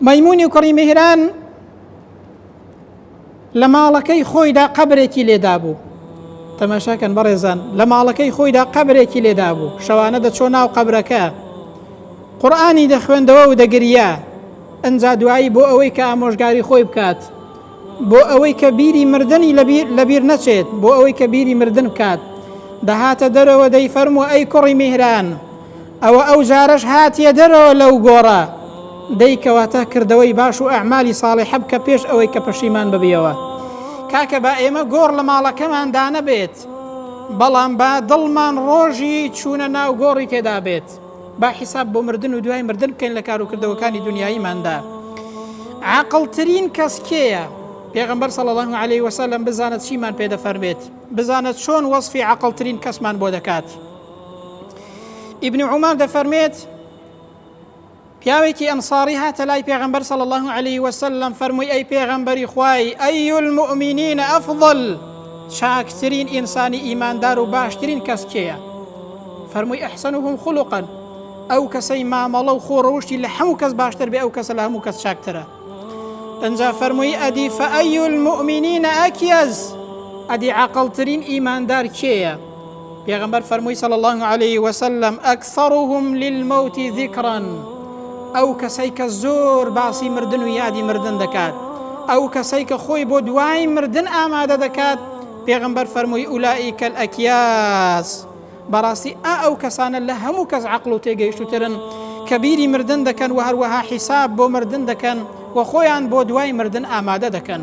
مەیمونی کوڕی میهران لە ماڵەکەی خۆیدا قەبرێکی لێدابوو تەماشاکەن بەڕێزان لە ماڵەکەی خۆیدا قەبرێکی لێدابوو شەوانە دەچۆ ناو قەبرەکە قورآانی دەخوێندەوە و دەگریا ئەجا دوایی بۆ ئەوەی کە ئامۆژگاری خۆی بکات بۆ ئەوەی کە بیری مردنی لە بیر نەچێت، بۆ ئەوەی کە بیری مردن بکات، دەهاتە دەرەوە، دەیفەرموو، ئەی کوڕی میهران! ئەوە ئەو جارەش هاتیە دەرەوە لەو گۆڕە؟ دەی کەواتە کردەوەی باش و ئەعمالی ساڵیحە بکە پێش ئەوەی کە پەشیمان ببیەوە. کاکە با ئێمە گۆڕ لە ماڵەکەمان دانەبێت، بەڵام با دڵمان ڕۆژی چوونە ناو گۆڕی تێدا بێت. با حیساب بۆ مردن و دوای مردن بکەین لە کار و کردەوەکانی دونیاییماندا. عاقڵترین کەس کێیە؟ پێغەمبەر صلی الله علیه و سلم بزانە چیمان پێ دەفەرمێت، بزانە چۆن وەصفی عاقڵترین کەسمان بۆ دەکات. ابن عمر دەفەرمێت پیاوێکی ئەنصاری هاتە لای پێغەمبەر صلی الله علیه و سلم فەرمووی ئەی پێغەمبەری خوای ئەی المؤمنین افضل چاکترین ئینسانی ئیماندار و باشترین کەس کێیە؟ فەرمووی، احسنهم خلقا، ئەو کەسەی مامەڵە و خۆ ڕەوشتی لە هەموو کەس باشتر بێ ئەو کەسە لە هەموو کەس چاکترە. ئنجا فەرمووی، ئەدی فای المومنین اکیز، ئەدی عاقڵترین ئیماندار کێیە؟ پێغەمبەر فەرمووی صلی اللە علیە وسلم، اکثرهم للموت ذکرا، ئەو کەسەی کە زۆر باسی مردن و یادی مردن دەکات، ئەو کەسەی کە خۆی بۆ دوای مردن ئامادە دەکات، پێغەمبەر فەرمووی، اولئک الاکیاز. بەڕاستی ئا ئەو کەسانە لە هەموو کەس عەقڵ و تێگەیشتووترن کە بیری مردن دەکەن و هەروەها حیساب بۆ مردن دەکەن و خۆیان بۆ دوای مردن ئامادە دەکەن.